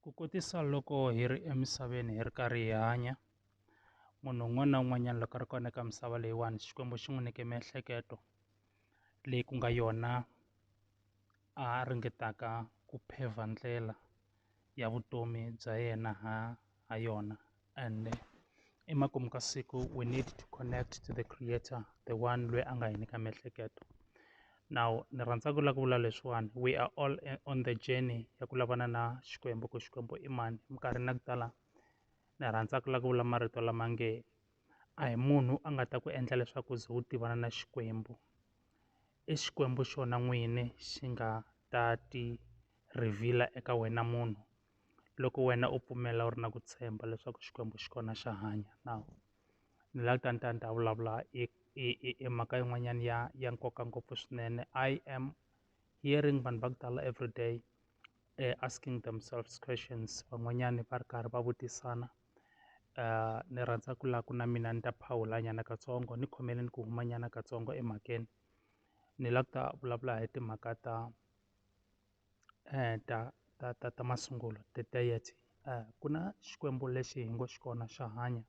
Ku kotisa loko hi ri emisaveni hi ri karhi hi hanya munhu un'wana na un'wanyana loko a ri kona eka misava leyiwani Xikwembu xi n'wi nyike miehleketo leyi ku nga yona a ringetaka ku pave ndlela ya vutomi bya yena ha ha yona. and emakumu ka siku we need to connect to the creator the one loyi a nga hi nyika miehleketo now ni rhandza ku lava ku vula leswiwani we are all on the journey ya ku lavana na xikwembu ku xikwembu i mani minkarhi na ku tala ni rhandza ku lava ku vula marito lama nge a hi munhu a nga ta ku endla leswaku ze u tivana na xikwembu i xikwembu xona n'wini xi nga ta ti reveal-a eka wena munhu loko wena u pfumela u ri na ku tshemba leswaku Xikwembu xi kona xa hanya now ni la ta ni ta ni ta vulavula i i i i mhaka yin'wanyana ya ya nkoka ngopfu swinene I am hearing vanhu va ku tala everyday asking themselves questions van'wanyani va ri karhi va vutisana ni rhandza ku la ku na mina ni ta phawula nyana katsongo ni khomeleni ku huma nyana katsongo emhakeni ni la ku ta vulavula hi timhaka ta ta ta ta ta masungulo ti tides ku na xikwembu lexi hi ngo xi kona xa hanya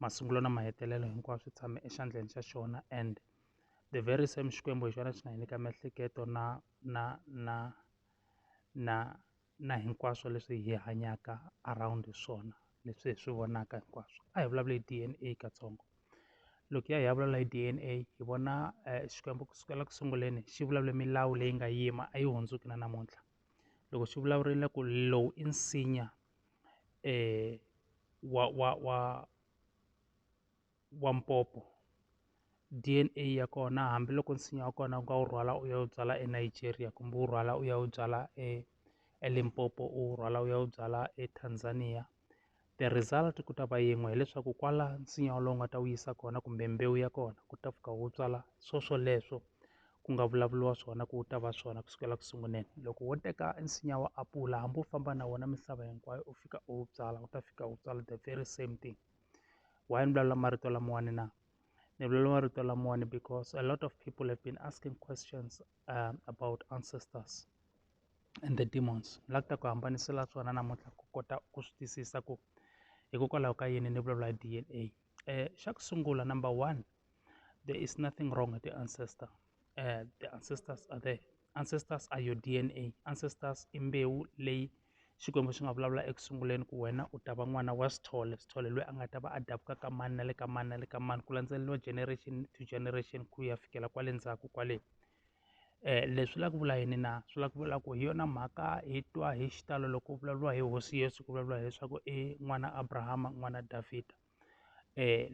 masungulo na mahetelelo hinkwawo swi tshame exandleni xa xona and the very same xikwembu hi xona xi nga hi nyika miehleketo na na na na na hinkwaswo leswi hi hanyaka around swona leswi hi swi vonaka hinkwaswo a hi vulavula hi D_N_A katsongo. loko hi ya hi ya vulavula hi D_N_A hi vona Xikwembu ku sukela ku sunguleni xi vulavule milawu leyi nga yima a yi hundzuki na namuntlha loko xi vulavurile ku lowu i nsinya wa wa wa wa mpopo D_N_A ya kona hambiloko nsinya wa kona u nga wu rhwala u ya wu byala eNigeria kumbe u rhwala u ya wu byala eLimpopo u rhwala u ya wu byala eTanzania. the result ku ta va yin'we hileswaku kwala nsinya wolowo nga ta wu yisa kona kumbe mbewu ya kona ku ta fika wu tswala swo swoleswo ku nga vulavuriwa swona ku wu ta va swona kusukela ku sunguleni loko wo teka nsinya wa apula hambi u famba na wona misava hinkwayo u fika u wu byala wu ta fika wu tswala the very same thing why ni vulavula marito lamawani na ni vulavula marito lamawani because a lot of people have been asking questions um, about ancestors and the demons ni la ku ta ku hambanisela swona namuntlha ku kota ku swi twisisa ku hikokwalaho ka yini ni vulavula hi D_N_A xa ku sungula number one there is nothing wrong with the ancestor the ancestors are there ancestors are your D_N_A ancestors i mbewu leyi Xikwembu xi nga vulavula eku sunguleni ku wena u ta va n'wana wa Sithole Sithole lweyi a nga ta va a dabuka ka mani na le ka mani na le ka mani ku landzeleriwa generation to generation ku ya fikela kwale ndzhaku kwale leswi swi la ku vula yini na swi la ku vula ku hi yona mhaka hi twa hi xitalo loko ku vulavuriwa hi hosi Yesu ku vulavuriwa hileswaku i n'wana Abrahama n'wana Davhida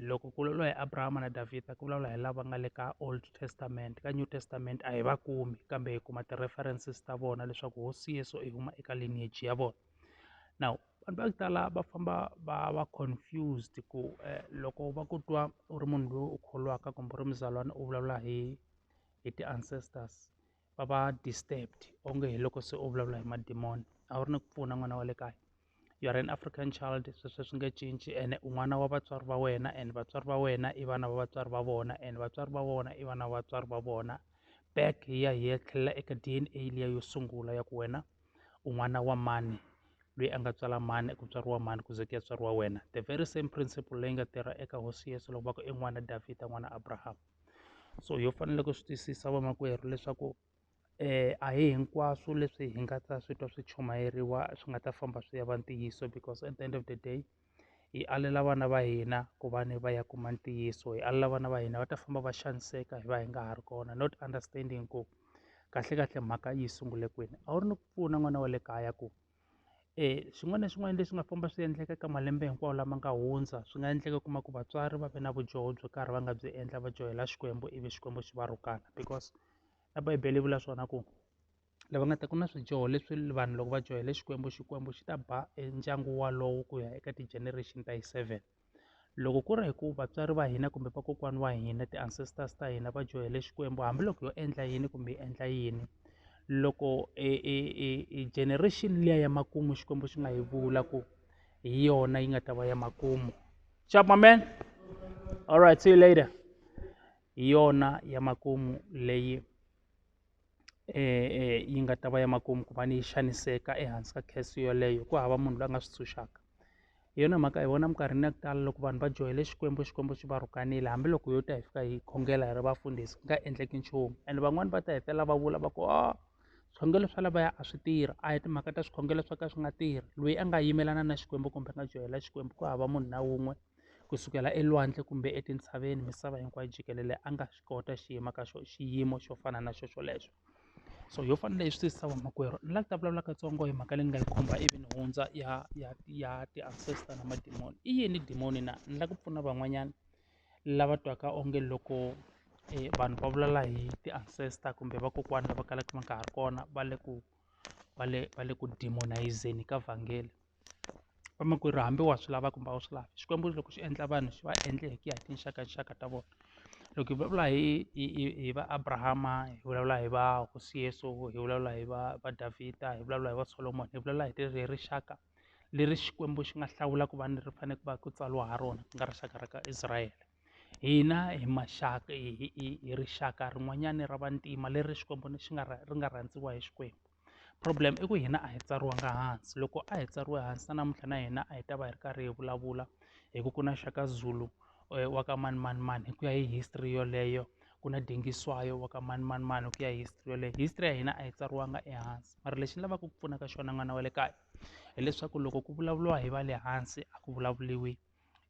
loko ku vulavuriwa hi Abrahama na Davhida ku vulavula hi lava nga le ka old testament ka new testament a hi va kumi kambe hi kuma ti-references ta vona leswaku hosi Yesu i huma eka lineage ya vona now vanhu va ku tala va famba va va confused ku loko va ku twa u ri munhu loyi u kholwaka kumbe u ri muzalwana u vulavula hi. hi ti-ancestors va va disturbed onge hi loko se u vulavula hi madimoni a wu ri ni ku pfuna n'wana wa le kaya you are an African child sweswo swi nge cinci ene u n'wana wa vatswari va wena and vatswari va wena i vana va vatswari va vona and vatswari va vona i vana va vatswari va vona back hi ya hi ya tlhelela eka D_N_A liya yo sungula ya ku wena u n'wana wa mani loyi a nga tswala mani ku tswariwa mani ku ze ku ya tswariwa wena the very same principle leyi nga tirha eka hosi Yesu loko va ku i n'wana Davhida n'wana Abraham. so yo fanele ku swi twisisa vamakwerhu leswaku a hi hinkwaswo leswi hi nga ta swi twa swi chumayeriwa swi nga ta famba swi ya va ntiyiso because at the end of the day hi alela vana va hina ku va ni va ya kuma ntiyiso hi alela vana va hina va ta famba va xaniseka hi va hi nga ha ri kona not understanding ku kahlekahle mhaka yi sungule kwini a wu ri ni ku pfuna n'wana wa le kaya ku. swin'wana na swin'wana leswi nga famba swi endleka ka malembe hinkwawo lama nga hundza swi nga endleka u kuma ku vatswari va ve na vudyoho byo karhi va nga byi endla va dyohela Xikwembu ivi Xikwembu xi va rhukana because na bibele yi vula swona ku lava nga ta ku na swidyoho leswi vanhu loko va dyohela Xikwembu Xikwembu xi ta ba e ndyangu walowo ku ya eka ti-generation ta yi seven. loko ku ri hi ku vatswari va hina kumbe vakokwana wa hina ti-ancestors ta hina va dyohele xikwembu hambiloko yo endla yini kumbe yi endla yini loko e, e, e, e generation liya ya makumu xikwembu xi nga yi vula ku hi yona yi nga ta va ya makumu chap my man all right see you later hi yona ya makumu leyi yi nga ta va ya makumu ku va ni yi xaniseka ehansi ka curse yoleyo ku hava munhu loyi a nga swi ntshunxaka hi yona mhaka hi vona minkarhini ya ku tala loko vanhu va joyele xikwembu xikwembu xi va rhukanile hambiloko yo ta hi fika hi khongela hi ri vafundhisi ku nga endleki nchumu and van'wani va ta hetelela va vula va ku a swikhongelo swa lavaya a swi tirhi a hi timhaka ta swikhongelo swo ka swi nga tirhi loyi a nga yimelana na xikwembu kumbe a nga joyela xikwembu ku hava munhu na wun'we ku sukela elwandle kumbe etintshaveni misava hinkwayo jikelele a nga swi kota xiyimo ka xo xiyimo xo fana na xo xolexo so yo fana leyi swi twisisa vamakwerhu ni la ku ta vulavula katsongo hi mhaka leyi ni nga yi khumba ivi ni hundza ya ya ya ti-ancestor na madimoni i yini dimoni na ni la ku pfuna van'wanyana lava twaka onge loko vanhu va vulavula hi ti-ancestor kumbe vakokwana lava kalaka va nga ha ri kona va le ku. va le va le ku demonise-zeni ka vhangela vamakwerhu hambi wa swi lava kumbe a wu swi lavi Xikwembu loko xi endla vanhu xi va endle hi ku ya hi tinxakaxaka ta vona loko hi vulavula hi hi hi hi va Abrahama hi vulavula hi va hosi Yesu hi vulavula hi va va Davida hi vulavula hi va Solomon hi vulavula hi hi rixaka leri Xikwembu xi nga hlawula ku va ni ri fanele ku va ku tsariwa ha rona ku nga rixaka ra ka Israyele. Hina hi maxaka hi hi hi hi rixaka rin'wanyani ra vantima leri Xikwembu ni xi nga ri nga rhandziwa hi Xikwembu problem i ku hina a hi tsariwanga hansi loko a hi tsariwe hansi na namuntlha na hina a hi ta va hi ri karhi hi vulavula hi ku ku na Shaka Zulu wa ka manimanimani hi ku ya hi history yoleyo ku na Dingiswayo wa ka manimanimani hi ku ya hi history yoleyo history ya hina a yi tsariwanga ehansi mara lexi ni lavaka ku pfunaka xona n'wana wa le kaya hileswaku loko ku vulavuriwa hi va le hansi a ku vulavuriwi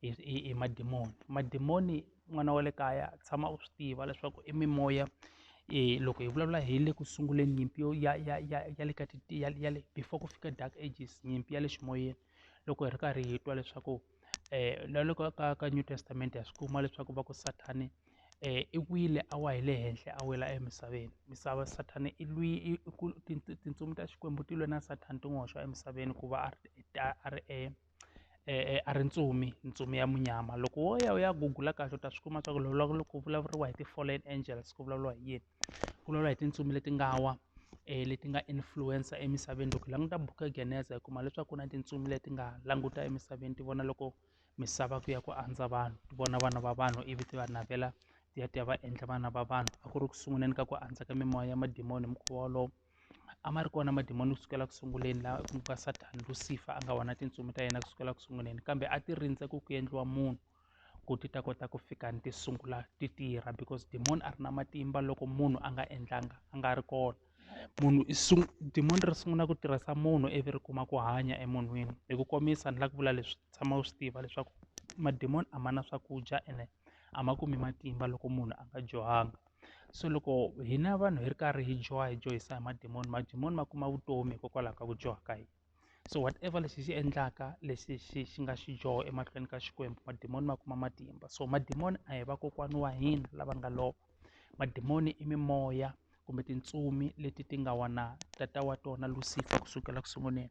hi hi hi madimoni madimoni n'wana wa le kaya tshama u swi tiva leswaku i mimoya um loko hi vulavula hi le ku sunguleni nyimpi yo ya ya ya ya le ka ti ya ya le before ku fika dark ages nyimpi ya le ximoyeni loko hi ri karhi hi twa leswaku um na loko ka ka new testament ha swi kuma leswaku va ku sathani um i wile a wa hi le henhla a wela emisaveni misava sathani i lwi i ku tintsumi ta xikwembu ti lwe na sathani ti n'wi hoxa emisaveni ku va a ri a ri e a ri ntsumi ntsumi ya munyama loko wo ya u ya gugula kahle u ta swi kuma swa ku loko loko ku vulavuriwa hi ti-fallen angels ku vulavuriwa hi yini ku vulavuriwa hi tintsumi leti nga wa leti nga influencer emisaveni loko hi languta buku ya geneza hi kuma leswaku ku na tintsumi leti nga languta emisaveni ti vona loko misava ku ya ku andza vanhu ti vona vana va vanhu ivi ti va navela ti ya ti ya va endla vana va vanhu a ku ri ku sunguleni ka ku andza ka mimoya ya madimoni hi mukhuva wolowo. A ma ri kona madimoni ku sukela ku sunguleni laha ku nga Sathana Lucifer a nga wona tintsumi ta yena ku sukela ku sunguleni kambe a ti rindze ku ku endliwa munhu ku ti ta kota ku fika ni ti sungula ti tirha because demon a ri na matimba loko munhu a nga endlanga a nga ri kona munhu i demon ri sungula ku tirhisa munhu ivi ri kuma ku hanya emunhwini hi ku komisa ni la ku vula leswi tshama u swi tiva leswaku madimoni a ma na swakudya ene a ma kumi matimba loko munhu a nga dyohanga. so loko hina vanhu hi ri karhi hi dyoha hi dyohisa hi madimoni madimoni ma kuma vutomi hikokwalaho ka ku dyoha ka hina so whatever lexi xi endlaka lexi xi xi nga xi dyoho emahlweni ka xikwembu madimoni ma kuma matimba so madimoni a hi vakokwani wa hina lava nga lova madimoni i mimoya kumbe tintsumi leti ti nga wana tata wa tona lucifer kusukela ku sunguleni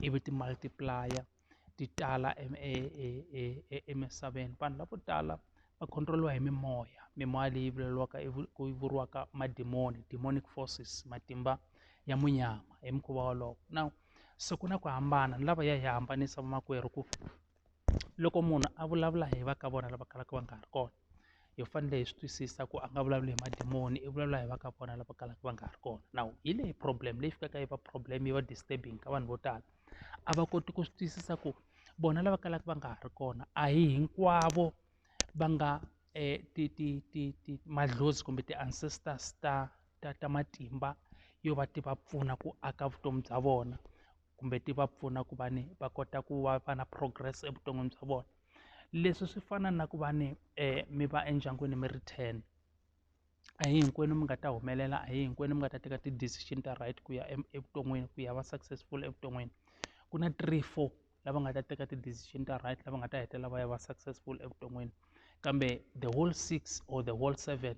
ivi ti multiplier ti tala emisaveni vanhu lavo tala va control-iwa hi mimoya mimoya leyi vulavuriwaka ku vuriwaka madimoni demonic forces matimba ya munyama hi mukhuva wolowo na se ku na ku hambana ni lava ya hi hambanisa vamakwerhu ku loko munhu a vulavula hi va ka vona lava kalaka va nga ha ri kona. hi fanele hi swi twisisa ku a nga vulavuli hi madimoni i vulavula hi va ka vona lava kalaka va nga ha ri kona now hi leyi problem leyi fikaka yi va problem yi va disturbing ka vanhu vo tala a va koti ku swi twisisa ku vona lava kalaka va nga ha ri kona a hi hinkwavo va nga ti ti ti ti madlozi kumbe ti-ancestors ta ta ta matimba yo va ti va pfuna ku aka vutomi bya vona. kumbe ti va pfuna ku va ni va kota ku va va na progress evuton'wini bya vona leswi swi fana na ku va ni um mi va endyangwini mi ri ten a hi hinkwenu mi nga ta humelela a hi hinkwenu mi nga ta teka ti-decision ta right ku ya evuton'wini ku ya va successful evuton'wini ku na three four lava nga ta teka ti-decision ta right lava nga ta hetelela va ya va successful evuton'wini. kambe the whole six or the whole seven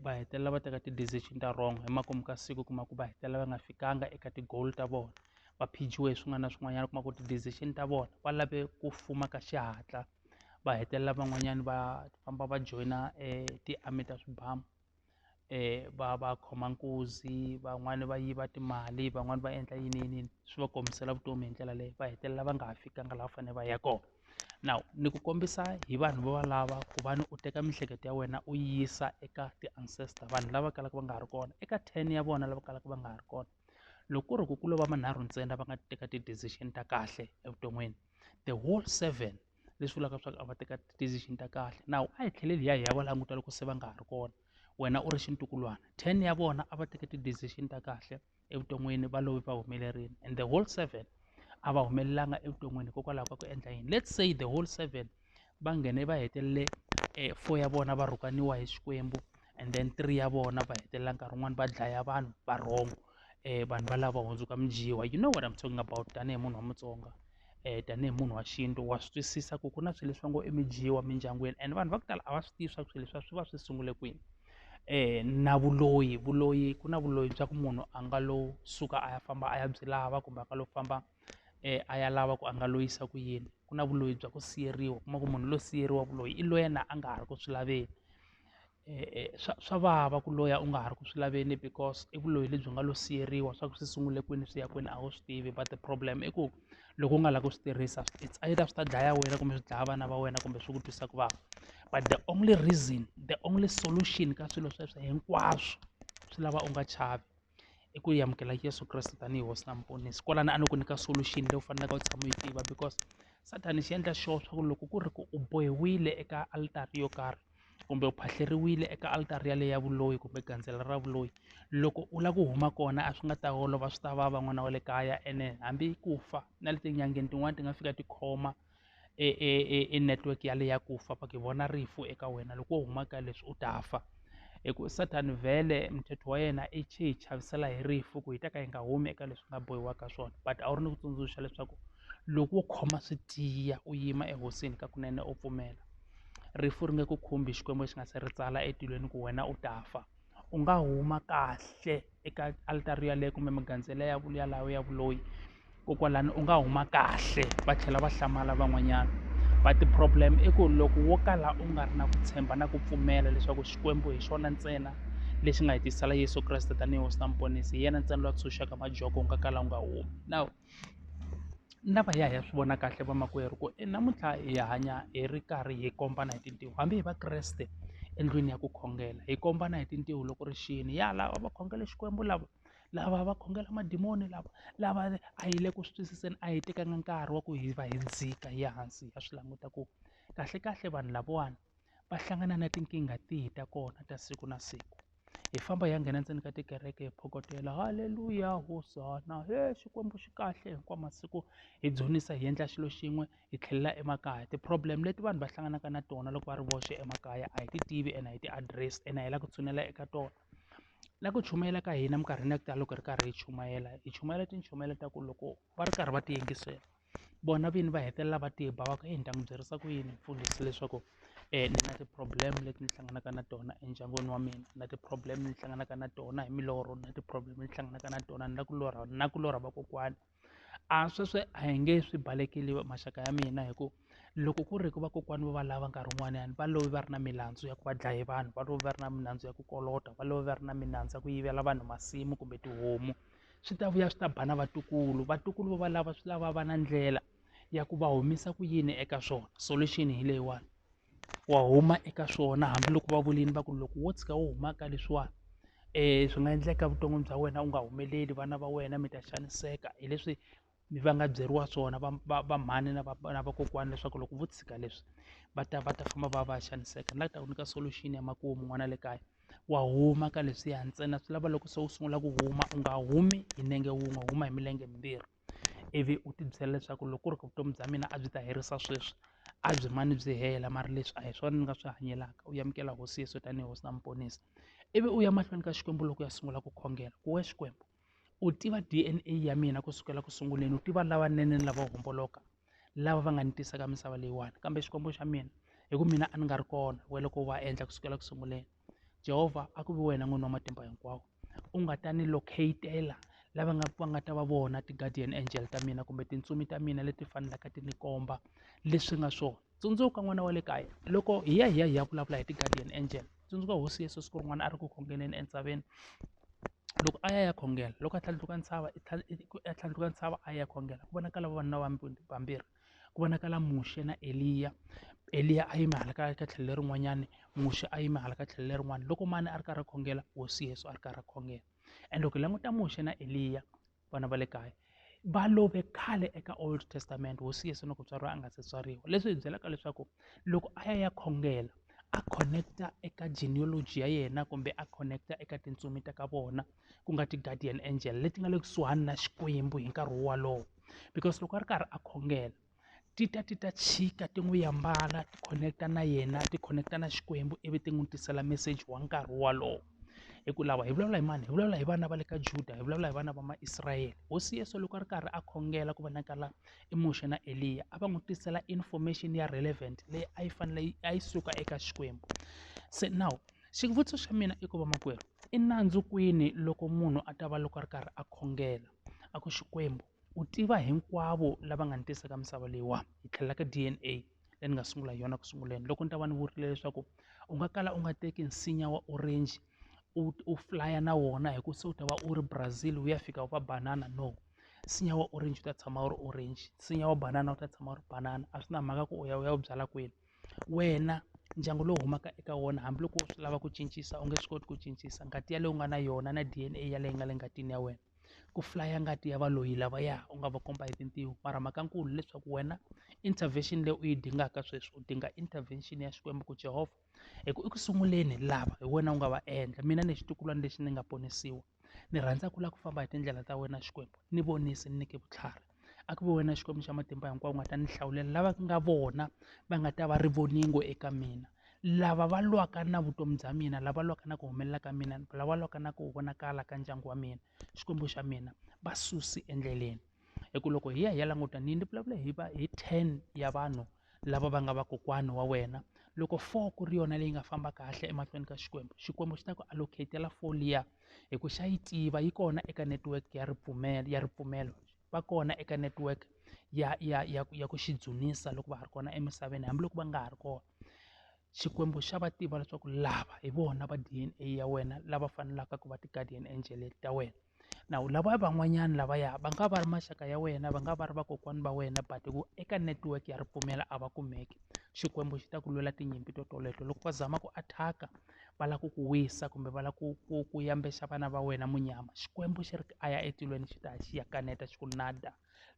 va hetelela va teka ti-decision ta wrong hi makumu ka siku u kuma ku va hetelela va nga fikanga eka ti-goal ta vona va phichiwe hi swin'wana na swin'wanyana u kuma ku ti-decision ta vona va lave ku fuma ka xihatla va hetelela van'wanyana va famba va joyina ti-army ta swibamu. va va khoma nkuzi van'wani va yiva timali van'wani va endla yini yini yini swi va komisela vutomi hi ndlela leyo va hetelela va nga ha fikanga laha va fanele va ya kona now ni ku kombisa hi vanhu vo valava ku va ni u teka miehleketo ya wena u yisa eka ti-ancestor vanhu lava kalaka va nga ha ri kona eka ten ya vona lava kalaka va nga ha ri kona loko ku ri ku ku lova manharhu ntsena va nga teka ti-decision ta kahle evuton'wini the whole seven. leswi vulaka leswaku a va teka ti-decision ta kahle nawu a hi tlheleli hi ya hi ya va languta loko se va nga ha ri kona wena u ri xintukulwana ten ya vona a va teke ti-decision ta kahle evuton'wini va love va humelerile and the whole seven a va humelelanga evuton'wini hikokwalaho ka ku endla yini let's say the whole seven va nghene va hetelele um four ya vona va rhukaniwa hi xikwembu and then three ya vona va hetelela nkarhi wun'wani va dlaya vanhu va wrong um vanhu valava hundzuka mudyiwa you know what im talking about tanihi munhu wa mutsonga um tanihi munhu wa xintu wa swi twisisa ku ku na swilo leswi va ngo i midyiwa mindyangwini and vanhu va ku tala a va swi tivi swa ku swilo leswiya swi va swi sungule kwini um na vuloyi vuloyi ku na vuloyi bya ku munhu a nga lo suka a ya famba a ya byi lava kumbe a nga lo famba. a ya lava ku a nga loyisa ku yini ku na vuloyi bya ku siveriwa u kuma ku munhu loyi siveriwaka loyi i loyi na a nga ha ri ku swi laveni swa swa vava ku loya u nga ha ri ku swi laveni because i vuloyi lebyi nga lo siveriwa swa ku swi sungule kwini swi ya kwini a wu swi tivi but the problem i ku loko u nga lavi ku swi tirhisa it's either swi ta dlaya wena kumbe swi dlaya vana va wena kumbe swi ku twisa ku vava but the only reason the only solution ka swilo sweswo hinkwaswo swi lava u nga chavi. i ku amukela Yeso Kreste tanihi hosi na muponisi kwalano a ni ku nyika solution leyi u faneleke u tshama u yi tiva because sathana xi endla sure swa ku loko ku ri ku u bohiwile eka alitari yo karhi kumbe u phahleriwile eka alitari yaleyo ya vuloyi kumbe gandzelo ra vuloyi loko u lava ku huma kona a swi nga ta olova swi ta vava n'wana wa le kaya ene hambi ku fa na le tin'angeni tin'wani ti nga fika tikhoma. i i i i network ya le ya ku fa va ku hi vona rifu eka wena loko wo huma ka leswi u ta fa hi ku Satan vhele mthetho wa yena i hi chavisela hi rifu ku hi ta ka hi nga humi eka leswi nga bohiwa ka swona but a wu ri ni ku tsundzuxa leswaku loko wo khoma swi tiya u yima ehosini ka kunene u pfumela rifu ri nge ku khumbi Xikwembu xi nga se ri tsala etilweni ku wena u ta fa u nga huma kahle. eka altara yaleyo kumbe magandzelo ya yalawo ya vuloyi kokwalani u nga huma kahle va tlhela va hlamala van'wanyana but problem i ku loko wo kala u nga ri na ku tshemba na ku pfumela leswaku xikwembu hi xona ntsena lexi nga hetisela yesu kreste tanihi hosi na muponisi hi yena ntsena loyi a tshunxaka majoko u nga kala u nga humi now na va ya hi ya swi vona kahle vamakwerhu ku i namuntlha hi hanya hi ri karhi hi kombana hi tintiho hambi hi vakreste endlwini ya ku khongela hi kombana hi tintiho loko ri xini ya lava va khongela xikwembu lava lava va khongela madimoni lava lava a hi le ku swi twisiseni a hi tekanga nkarhi wa ku hi va hi dzika hi ya hansi hi ya swi languta ku kahlekahle vanhu lavawani va hlangana na tinkingha tihi ta kona ta siku na siku hi famba hi ya nghena ndzeni ka tikereke hi phokotela halleluya hosana he xikwembu xi kahle hinkwawu masiku hi dzunisa hi endla xilo xin'we hi tlhelela emakaya ti-problem leti vanhu va hlanganaka na tona loko va ri voxe emakaya a hi ti tivi ene a hi ti-address ene a hi lava ku tshunela eka tona na ku chumayela ka hina minkarhini ya ku tala loko hi ri karhi hi chumayela hi chumayela tinchumela ta ku loko va ri karhi va ti yingisela vona vini va hetelela va ti ba va ku heyi ni ta n'wi byerisa ku yini mfundhisi leswaku ni na ti-problem leti ni hlanganaka na tona endyangwini wa mina na ti-problem ni hlanganaka na tona hi milorho na ti-problem ni hlanganaka na tona ni na ku lorha na ku lorha vakokwana a sweswi a hi nge swi balekile maxaka ya mina hi ku loko ku ri hi ku vakokwana vo valava nkarhi wun'wanyani va love va ri na milandzu ya ku va dlaye vanhu va love va ri na milandzu ya ku kolota va love va ri na milandzu ya ku yivela vanhu masimu kumbe tihomu. swi ta vuya swi ta ba na vatukulu vatukulu vo valava swi lava va na ndlela ya ku va humisa ku yini eka swona solution hi leyiwani wa huma eka swona hambiloko va vulini va ku loko wo tshika wo huma ka leswiwani um swi nga endleka vuton'wini bya wena u nga humeleli vana va wena mi ta xaniseka hi leswi mi va nga byeriwa swona va va va mhani na va na vakokwana leswaku loko vo tshika leswi va ta va ta famba va ya va ya xaniseka ni la ku ta ku nyika solution ya makumu n'wana le kaya wa huma ka leswiya ntsena swi lava loko se u sungula ku huma u nga humi hi nenge wun'we u huma hi milenge mimbirhi ivi u ti byela leswaku loko ku ri ku vutomi bya mina a byi ta herisa sweswi a byi mane byi hela mara leswi a hi swona ni nga swi hanyelaka u amukela hosi Yeso tanihi hosi na muponisi ivi u ya mahlweni ka Xikwembu loko u ya sungula ku khongela ku we Xikwembu. u tiva D_N_A ya mina kusukela ku sunguleni u tiva lavanene ni lavo homboloka lava va nga ni tisaka misava leyiwani kambe xikwembu xa mina hi ku mina a ni nga ri kona wena loko u va endla kusukela ku sunguleni Jehova a ku vi wena n'wini wa matimba hinkwawo u nga ta ni locate-ela lava nga va nga ta va vona ti-guardian angel ta mina kumbe tintsumi ta mina leti faneleke ti ni komba leswi nga swona. Tsundzuka n'wana wa le kaya, loko hi ya hi ya hi ya vulavula hi ti-guardian angel, tsundzuka hosi Yesu siku rin'wana a ri ku khongeleni entshaveni. Loko a ya ya khongela, loko a tlhandluka ntshava a tlhandluka ntshava a ya khongela ku vonakala vavanuna vambirhi, ku vonakala Muxe na Eliya. Eliya a yime hala ka ka tlhelo lerin'wanyani, Muxe a yime hala ka tlhelo lerin'wani. Loko mani a ri karhi a khongela, hosi Yesu a ri karhi a khongela. And loko hi languta Muxe na Eliya, vana va le kaya va love khale eka old testament hosi yesu loko tswariwa a nga se tswariwa leswi hi byelaka leswaku loko a ya ya khongela a connecta eka genealogy ya yena kumbe a connecta eka tintsumi ta ka vona ku nga ti-guardian angel leti nga le kusuhani na xikwembu hi nkarhi wolowo because loko a ri karhi a khongela ti ta ti ta chika ti n'wi ambala ti khoneketa na yena ti khoneketa na Xikwembu ivi ti n'wi tisela meseji wa nkarhi wolowo hi ku lava hi vulavula hi mani hi vulavula hi vana va le ka Juda hi vulavula hi vana va Maisrayele hosi Yesu loko a ri karhi a khongela ku vonakala i Muxe na Eliya a va n'wi tisela information ya relevant leyi a yi fanele yi a yi suka eka Xikwembu se now xivutiso xa mina i ku va makwerhu i nandzu kwini loko munhu a ta va loko a ri karhi a khongela a ku Xikwembu U tiva hinkwavo lava nga ni tisa ka misava leyiwani, hi tlhelela ka D_N_A leyi ni nga sungula hi yona ku sunguleni. Loko ni ta va ni vurile leswaku u nga kala u nga teki nsinya wa orange u u fulaya na wona hi ku se u ta va u ri Brazil u ya fika u va banana no, nsinya wa orange u ta tshama u ri orange, nsinya wa banana u ta tshama u ri banana a swi na mhaka ku u ya u ya wu byala kwini. Wena ndyangu lowu humaka eka wona hambiloko u swi lava ku cincisa u nge swi koti ku cincisa ngati yaleyo u nga na yona na D_N_A yaleyo yi nga le ngatini ya wena. ku flaya ngati ya valoyi lavaya u nga va komba hi tintiho mara mhaka nkulu leswaku wena intervention leyi u yi dingaka sweswi u dinga intervention ya Xikwembu ku Jehova hi ku eku sunguleni lava hi wena u nga va endla mina ni xitukulwana lexi ni nga ponisiwa ni rhandza ku lava ku famba hi tindlela ta wena Xikwembu ni vonisi ni nyike vutlhari. a ku ve wena Xikwembu xa matimba hinkwawo u nga ta ni hlawulela lava ku nga vona va nga ta va rivoningo eka mina lava va lwaka na vutomi bya mina lava lwaka na ku humelela ka mina lava lwaka na ku vonakala ka ndyangu wa mina Xikwembu xa mina va susi endleleni hi ku loko hi ya hi ya languta ni ni vulavula hi va hi ten ya vanhu lava va nga vakokwani wa wena loko four ku ri yona leyi nga famba kahle emahlweni ka xikwembu xikwembu xi ta ku allocatela four liya hi ku xa yi tiva yi kona eka network ya ripfumelo ya ripfumelo va kona eka network ya ya ya ya ku xi dzunisa loko va ha ri kona emisaveni hambiloko va nga ha ri kona xikwembu xa va tiva leswaku lava hi vona va D_N_A ya wena lava fanelaka ku va ti-guardian angel ta wena. now lava van'wanyana lavaya va nga va ri maxaka ya wena va nga va ri vakokwana va wena but ku eka network ya ripfumela a va kumeki xikwembu xi ta ku lwela tinyimpi to toleto loko va zama ku attack-a va lava ku ku wisa kumbe va lava ku ku ku yambexa vana va wena munyama xikwembu xi ri a ya etilweni xi ta xi ya kaneta xi ku nada.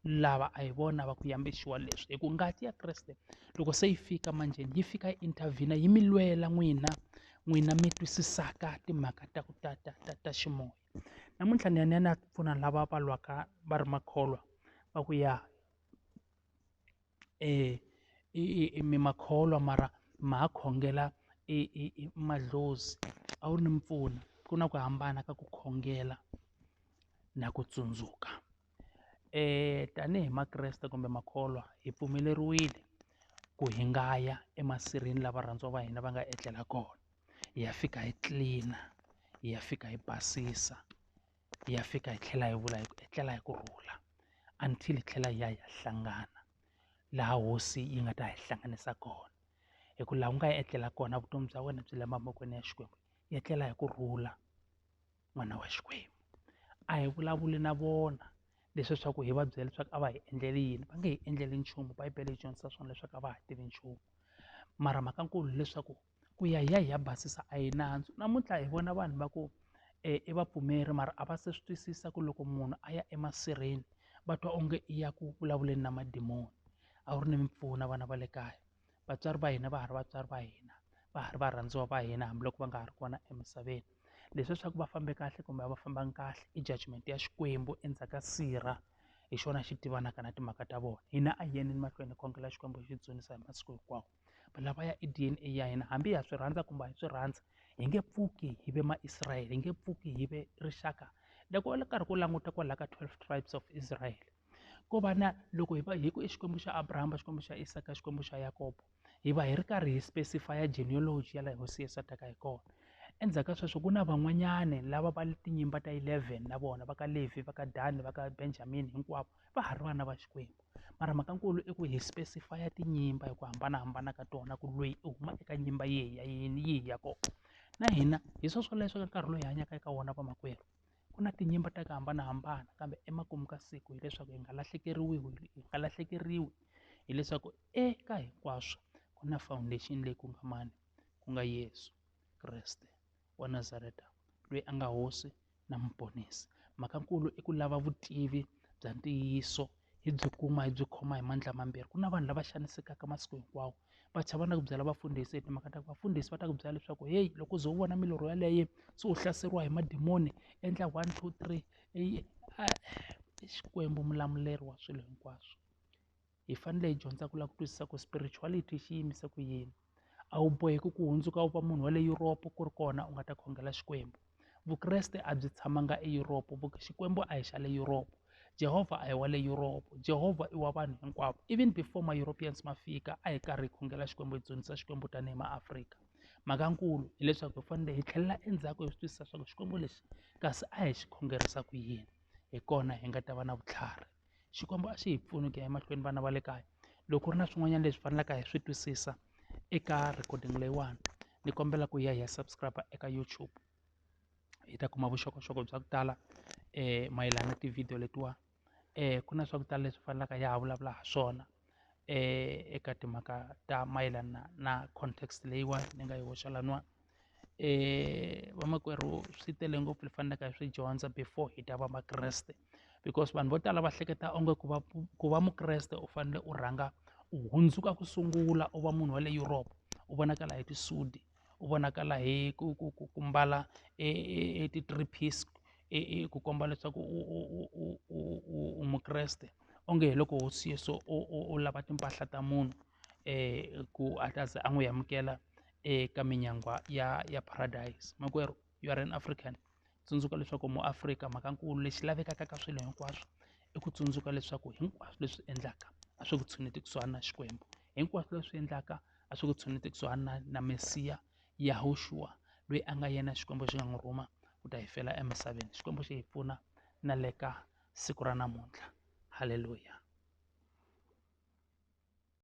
lava a hi vona va ku yambexiwa leswi hi ku ngati ya kreste loko se yi fika manjheni yi fika yi intervhina yi mi lwela n'wina n'wina mi twisisaka timhaka ta ku ta ta ta ta ximoya namuntlha ni ya ni ya ni ya pfuna lava va lwaka va ri makholwa va ku ya um mi makholwa mara ma ha khongela madlozi a wu ri ni mpfuna ku na ku hambana ka ku khongela na ku tsundzuka. tanihi makreste kumbe makholwa hi pfumeleriwile ku hi nga ya emasirheni la varhandziwa va hina va nga etlela kona hi ya fika hi tlilina hi ya fika hi basisa hi ya fika hi tlhela hi vula hi ku etlela hi ku rhula until hi tlhela hi ya hi ya hlangana laha hosi yi nga ta hi hlanganisa kona hi ku laha ku nga ya etlela kona vutomi bya wena byi le mavokweni ya Xikwembu hi etlela hi ku rhula. n'wana wa xikwembu a hi vulavuli na vona leswi swa ku hi va byela leswaku a va hi endleli yini va nge hi endleli nchumu bibele yi dyondzisa swona leswaku a va ha tivi nchumu mara mhaka nkulu hileswaku ku ya hi ya hi ya basisa a yi nandzu namuntlha hi vona vanhu va ku um i vapfumeri mara a va se swi twisisa ku loko munhu a ya emasirheni va twa onge i ya ku vulavuleni na madimoni a wu ri ni mimpfuno vana va le kaya vatswari va hina va ha ri vatswari va hina va ha ri varhandziwa va hina hambiloko va nga ha ri kona emisaveni leswi leswaku va fambe kahle kumbe a va fambanga kahle i judgment ya xikwembu endzhaku ka sirha hi xona xi tivanaka na timhaka ta vona hina a hi yeni mahlweni khongela xikwembu xi dzunisa hi masiku hinkwawo valava ya i D_N_A ya hina hambi ha swi rhandza kumbe hi swi rhandza hi nge pfuki hi ve ma Israel hi nge pfuki hi ve rixaka loko u karhi ku languta kwalaho ka twelve tribes of Israel ko va na loko hi va hi ku i xikwembu xa abrahama xikwembu xa isaka xikwembu xa yakobo hi va hi ri karhi hi specify genealogy ya laha hosi yesu a taka hi kona endzhaku ka sweswo ku na van'wanyana lava va tinyimba ta 11 na vona va ka levi va ka dani va ka benjamin hinkwavo va ha ri vana va xikwembu mara mhaka nkulu i ku hi specify tinyimba hi ku hambanahambana ka tona ku loyi i huma eka nyimba yihi ya yini yihi ya kona na hina hi swoswoleswo ka nkarhi loyi hi hanyaka eka wona vamakwerhu ku na tinyimba ta ku hambanahambana kambe emakumu ka siku hileswaku hi nga lahlekeriwi hi nga lahlekeriwi hileswaku eka hinkwaswo ku na foundation leyi ku nga mani ku nga Yesu Kreste wa Nazareta loyi a nga hosi na muponisi mhaka nkulu i ku lava vutivi bya ntiyiso hi byi kuma hi byi khoma hi mandla mambirhi ku na vanhu lava xanisekaka masiku hinkwawo va chava na ku byela vafundhisi hi timhaka ta ku vafundhisi va ta ku byela leswaku heyi loko u ze u vona milorho yeleyo se u hlaseriwa hi madimoni endla one two three i xikwembu mulamuleri wa swilo hinkwaswo hi fanele hi dyondza ku lava ku twisisa ku spirituality xi yimisa ku yini. a wu boheki ku hundzuka u va munhu wa le Europe ku ri kona u nga ta khongela Xikwembu Vukreste a byi tshamanga eYuropa Xikwembu a hi xa le Yuropa Jehovha a hi wa le Yuropa Jehovha i wa vanhu hinkwavo even before ma-Europeans ma fika a hi karhi hi khongela Xikwembu hi dzunisa Xikwembu tanihi maAfrika mhaka nkulu hileswaku hi fanele hi tlhelela endzhaku hi swi twisisa swa ku Xikwembu lexi kasi a hi xi khongerisa ku yini hi kona hi nga ta va na vutlhari. Xikwembu a xi hi pfuni ku ya emahlweni vana va le kaya loko ku ri na swin'wanyana leswi faneleke hi swi twisisa eka recording leyiwani ni kombela ku ya hi ya subscribe eka YouTube hi ta kuma vuxokoxoko bya ku tala mayelana na ti-video letiwa ku na swa ku tala leswi fanelaka ya ha vulavula ha swona eka timhaka ta mayelana na context leyiwani ni nga yi hoxa laniwani vamakwerhu swi tele ngopfu hi faneleke hi swi dyondza before hi ta va makreste. because vanhu vo tala va hleketa onge ku va ku va mukreste u fanele u rhanga u hundzuka ku sungula u va munhu wa le Europe u vonakala hi tisudi u vonakala hi ku ku ku ku mbala e, e, e ti-three piece ku komba leswaku u mukreste onge hi loko hosi yesu u lava timpahla ta munhu um ku a ta ze a n'wi amukela eka minyangwa ya ya paradise makwerhu you are an african tsundzuka leswaku mu afrika mhakankulu lexi lavekaka ka swilo hinkwaswo i ku tsundzuka leswaku hinkwaswo leswi endlaka a swi ku tshuneti kusuhani na xikwembu hinkwaswo leswi endlaka a swi ku tshuneti kusuhani na na mesiya yahoxuwa loyi a nga yena xikwembu xi nga n'wi rhuma ku ta hi fela emisaveni xikwembu xi hi pfuna na le ka siku ra namuntlha halleluya